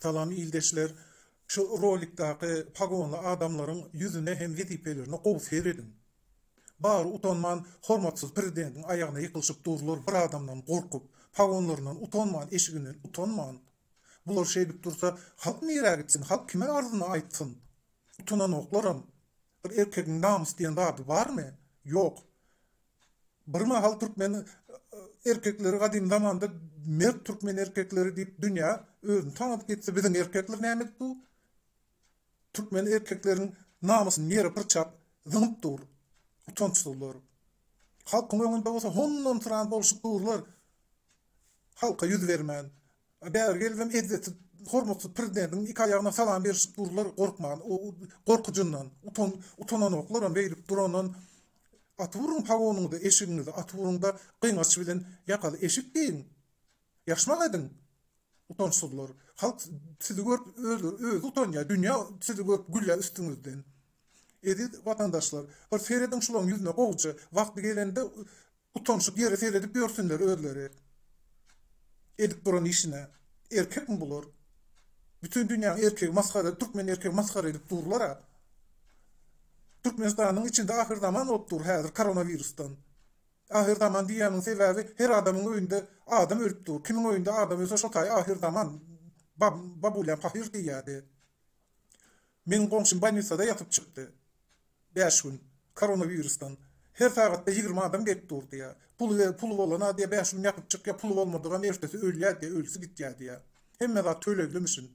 Salam ildeşler şu rolikdaky pagonly adamlaryň ýüzüne hem wezipelerine gowy serediň. Bary utanman hormatsyz prezidentiň aýagyna ýykylyşyp durlar bir adamdan gorkup, pagonlaryndan utanman eşiginden utanman. Bular şeýdip dursa halk nirä gitsin halk kime arzyny aýtsyn. Utanaňoklaram. Bir erkegiň namys diýen zady barmy? Ýok. Bir mahal türkmen erkekleri gadym zamanda mert türkmen erkekleri diýip dünýä özüni tanadyp gitdi. Biziň erkekler nämedik bu? Türkmen erkekleriň namysyny ýere pyrçap, zyňyp dur. Utançsyzlar. Halkyň öňünde bolsa hondan-syran bolşup durlar. Halka ýüz bermän. Bäri gelibem ezzeti hormatly prezidentimiň iki aýagyna salam berişip durlar gorkman gorkujyndan utan utananoklarm beýdip durandan atyp uruň pagonyňyzy eşigiňizi atyp uruňda gyňaç bilen ýakaly eşik geýiň ýaşmak ediň utançsyzlar halk sizi görüp özleri özi utanýa dünýä sizi görüp gülýa üstüňizden eziz watandaşlar bir serediň şulaň ýüzüne gowja wagty gelende Utanşyk ýeri seredip ýörsünler özleri edip duran işine. Erkekmi bular? Bütin dünýäň erkegi masgara türkmen erkegi masgara edip durlara. Türkmenistanyň içinde ahyr zaman bolup dur häzir koronawirusdan. Ahyr zaman diýýäniň sebäbi her adamyň öýünde adam ölüp dur. Kimiň öýünde adam ölse şo taýy ahyr zaman. Babulýam pahyr diýýädi. Meniň goňşym bolnisada ýatyp çykdy. Bäş gün. Koronawirusdan. Her sagatda ýigrimi adam gelip dur diýýä. Puly ber, puly bolana diýýä, bäş gün ýatyp çykýa, puly bolmadygam ertesi ölýä diýýä, ölüsi gitýä diýýä. Hemme zat töleglemişin.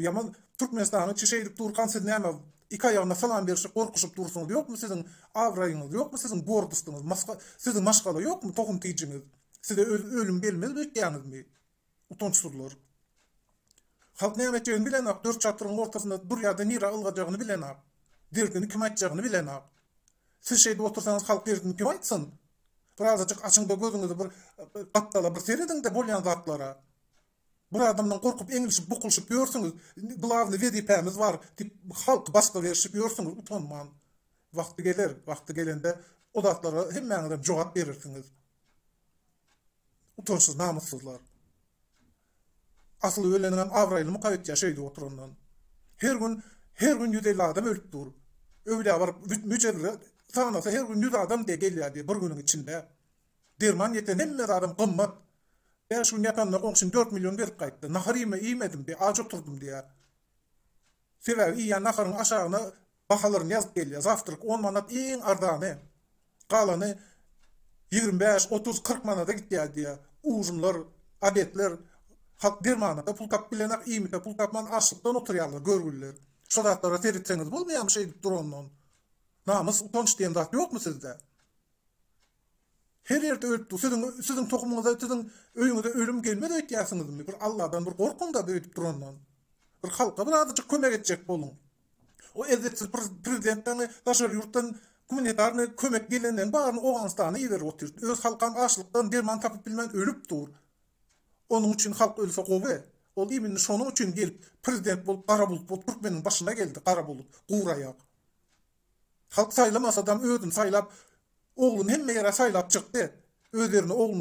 Ýaman Türkmenistanyň içi şeýdip durkan siz näme iki aýagyna salam berişip gorkuşyp dursuňyz ýokmy siziň abraýyňyz ýokmy siziň gordystyňyz maska siziň maşgala ýokmy tohum tijiňiz size ölüm gelmez öýtýäňizmi Utançsyzlar. Halk näme etjegini bilenok, dört çatryň ortasynda durýarda nirä ylgajagyny bilenok, derdini kime aýtjagyny bilenok. Siz şeýdip otursaňyz halk derdini kime aýtsyn? Bir azajyk açyňda gözüňizi bir gapdala bir serediňde bolýan zatlara. Bir adamdan gorkup eňlişip bukulyşyp ýörsüňiz, glawny wezipämiz bar diýip halky basga berişip ýörsüňiz utanman. Wagty geler, wagty gelende o zatlara hemmäňizem jogap berersiňiz. Utançsyz namyssyzlar. Asyl öleniňem abraýlymyka öýtýä şeýdip oturandan. Her gün her gün ýüz elli adam ölüp dur. Öwlä baryp müjewire sanasa her gün ýüz adam diýe gelýä diýe bir günüň içinde. Derman ýeten hemme zadam gymmat. Bäş gün ýatanda goňşym dört million berip gaýtdy. Nahar iýme iýmedim diýe aç oturdym diýä. Sebäbi iýýän naharyň aşagyna Bahalaryn ýazyp gelýär. Zawtrak on manat iň arzany. Galany ýigrimi bäş, otuz, kyrk manada gitýär diýýär. Ujymlar, obedler. Halk dermanada pul tapyp bilenak, iýmite pul tapman açlykdan oturýarlar, görgüliler. Şu zatlara seretseňiz bolmaýarmy şeýdip durandan? Namys, utanç diýen zat ýokmy sizde? Her ýerde ölüp dur. Siziň siziň tohumyňyza, siziň öýüňize ölüm gelmez öýtýärsiňizmi? Bir Alladan bir gorkuň-da öýdüp durandan. Bir halka birazajyk kömek etjek boluň. O elzepsiz prezidentlerini daşary ýurtdan gumanitarnyý kömek gelenlerini baryny Owganystana iberip otyr. Öz halkam açlykdan derman tapyp bilmän ölüp dur. Onuň üçin halk ölse gowy. Ol iminni şonuň üçin gelip prezident bolup gara bulut bolup türkmeniň başyna geldi gara bulut guraýak. Halk saýlamasadam özüni saýlap ogluny hemme ýere saýlap çykdy. Öz ýerine ogluny